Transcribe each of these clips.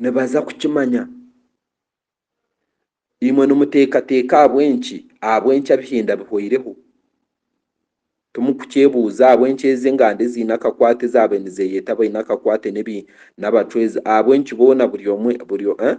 Nibaza kukimanya. Imwe nimuteekateeka ahabw'enki ahabw'enki abihinda bihoireho? Timukukyebuuza ahabw'enki ezi enganda eziine akakwate ezaabaire nizeeyeta abaine akakwate n'ebi n'abacwezi ahabw'enki boona buri omwe buri eh?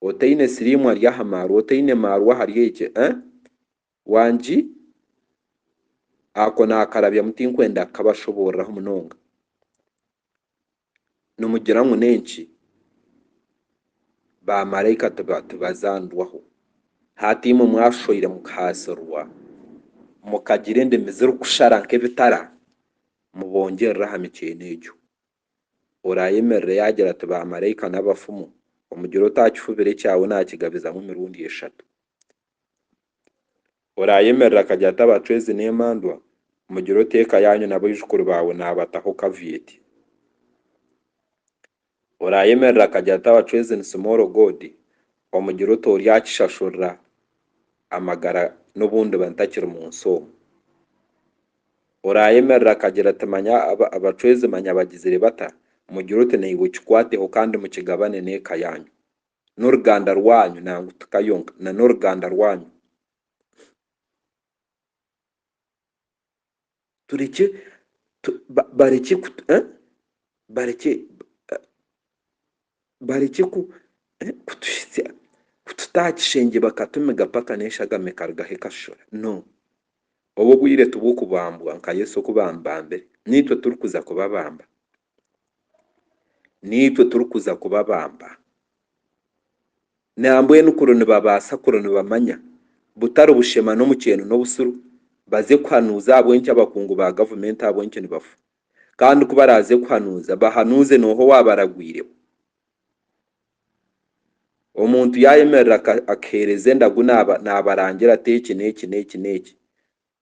Otaine siriimu ari aha maarwa, otaine maarwa ahari egi eh? Wangi ako naakarabyamu tinkwenda kukabashoboororeraho munonga. Nimugira ngu n'enki? Baamaraika tibazanirwaho? Hati imwe mwashoire mukahaasirwa, mukagira endimi zirikushara nk'ebitara, mubongyerere aha mikyeeno egyo. Oraayemerere yaagira ati, Baamaraika n'abafumu, omugire oti, Aha kifubiro ekyawe naakigabizamu emirundi eshatu. Oraayemerera akagye ati abacwezi n'emandwa, mugire oti eka yaanyu n'abaijukuru baawe naabataho kavieti. Oraayemerera akagye ati abacwezi ni simooro goodi, omugire oti oryakishashurira amagara n'obu ndiba ntakiri mu nsi omu. Oraayemerera akagira ati manya abacwezi manya bagizire bata, mugire oti naiwe kikwateho kandi mukigabane n'eka yaanyu. n'oruganda rwanyu, nangwa ti ka yonka, na n'oruganda rwanyu. Turekye, tu, ba, barekye ku, eh? barekye, eh, barekye ku, eh, kutuhitsya, kututa aha kishengye bakatumiga paka n'enshagama ekarugaho ekashushura. No. Obu obwire ti bw'okubambwa, nka Yesu oku bamubambire, n'itwe turikuza kubabamba. naitwe turikuza kubabamba. Nambwenu kuri nibabaasa kuri nibamanya butari bushema n'omukyeeno n'obusiru baze kuhanuuza ahabw'enki abakungu ba gavumenti ahabw'enki nibafa. Kandi ku baraaze kuhanuuza bahanuuze nooha owaabaragwireho. Omuntu yaayemerera akaheereza endagu naabarangira ati eki n'eki n'eki n'eki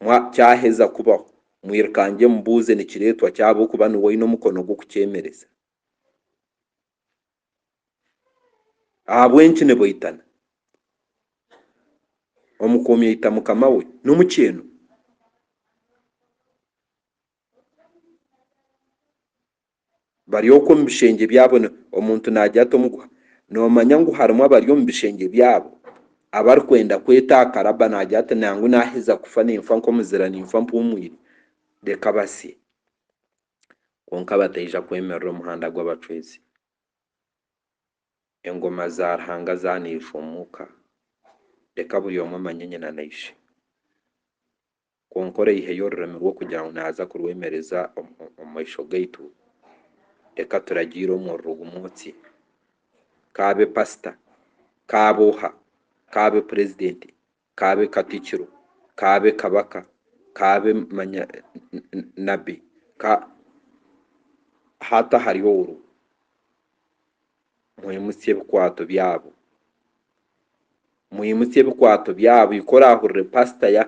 Mwa kyaheza kubaho, mwirukangye mubuuze nikireetwa ki ahabw'okuba niwe oine omukono gw'okukyemereza. Ahabw'enki nibaitana? Omukuumi aita mukama we n'omukyeeno. bari okwo omu bishengye byabo ni, omuntu naagira ati omuguha, noomanya ngu harimu abari omu bishengye byabo abarikwenda kweta aha karabba naagira ati nangu naaheza kufa ninfa nk'omuzira ninfa mpuumwire, reka basye. Kwonka bataija kwemerera omuhanda gw'abacwezi. Engoma za Ruhanga zaaniirwe omu ka. Reka buri omwe amanye nyina na ishe. Kwonka oraihayo orurimi rwo kugira ngu naaza kurwemereza omu maisho gaitu? Reka turagiire omuriro gumwe oti, Ka abe pasita, ka abe oha, ka abe purezidenti, ka abe katikiro, ka abe kabaka, ka abe manya nabbi, ka, hati ahari oru. Mwimutsye ebikwaato byabo. Mwimutsye ebikwaato byabo. Ika oraahurire paasita ya,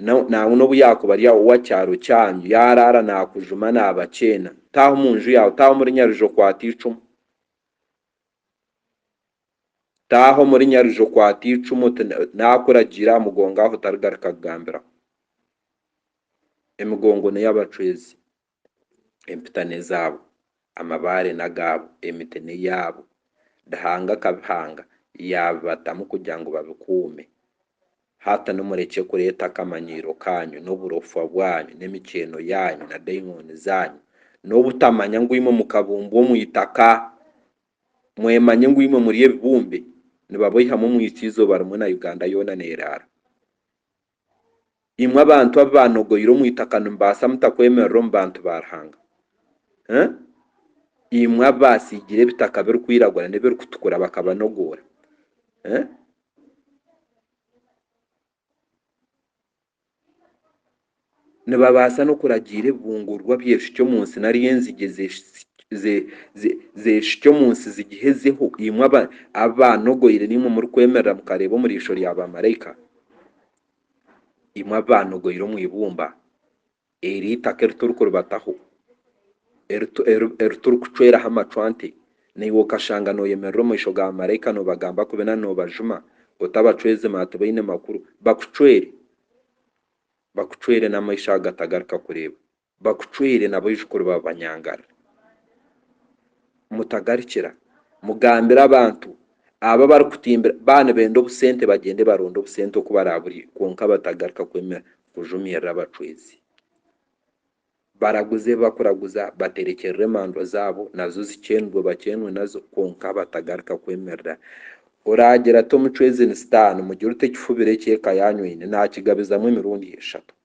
na, nangwa n'obu yaakuba ari owa kyaro kyanyu, yaaraara naakujuma naabakyeena, taaha omu nju yaawe, taaha omuri Nyaruju okwate eicumu. Taaha omuri Nyaruju okwate eicumu, oti, Naakuragiire aha mugongo aho otarigaruka kugambiraho. Emigongo n'ey'abacwezi. Empita n'ezaabo, amabaare n'agaabo, emiti n'eyaabo. Ruhanga akabihanga, yaabibatamu kugira ngu babikuume. Hati nu murekye kureeta akamanyiiro kaanyu, n'oburofwa bwanyu, n'emikyeeno yaanyu, na daimooni zaanyu, n'obutamanya ngu imwe mukabumbwa omu itaka, mwemanye ngu imwe muri ebibumbe. Nibaboihamu omwitsyo eizooba rimwe na Uganda yoona neeraara. imwe abantu abu baanogoire omu itaka nimubaasa muta kwemerera omu bantu ba Ruhanga? Imwe abu baatsiigire ebitaka birikwiragura n'ebirikutukura bakabanogoora? Nibabaasa n'okuragiira ebibungurwa byeshukye omu nsi nari enzigye zeeshukye omu nsi zigihezeho, imwe abu baanogoire n'imwe murikwemerera mukareeba omu riisho rya baamaraika? imwe abaanogoire omu ibumba eri itaka eri turikuribataho, eri turikucweraho amacwante, naiwe okashanga nooyemerera omu maisho ga maraika noobagamba kubi na noobajuma otabacwerize manya tibaine makuru, bakucwere, bakucwere n'amaisho ago gatagaruka kureeba. bakucwire na baijukuru ba banyangara. Mutagarikira, mugambire abantu abo abarikutimbira baaba nibenda obusente bagyende baronde obusente oku baraaburye kwonka batagaruka kwemera kujumirira abacwezi. Baraguze ebi bakuraguza, baterekyerere emandwa zaabo nazo zikyenurwe bakyenwe nazo kwonka batagaruka kwemerera. Oraagira ati omucwezi ni sitaani, mugire oti ekifubiro eki eka yaanyu eine naakigabizamu emirundi eshatu.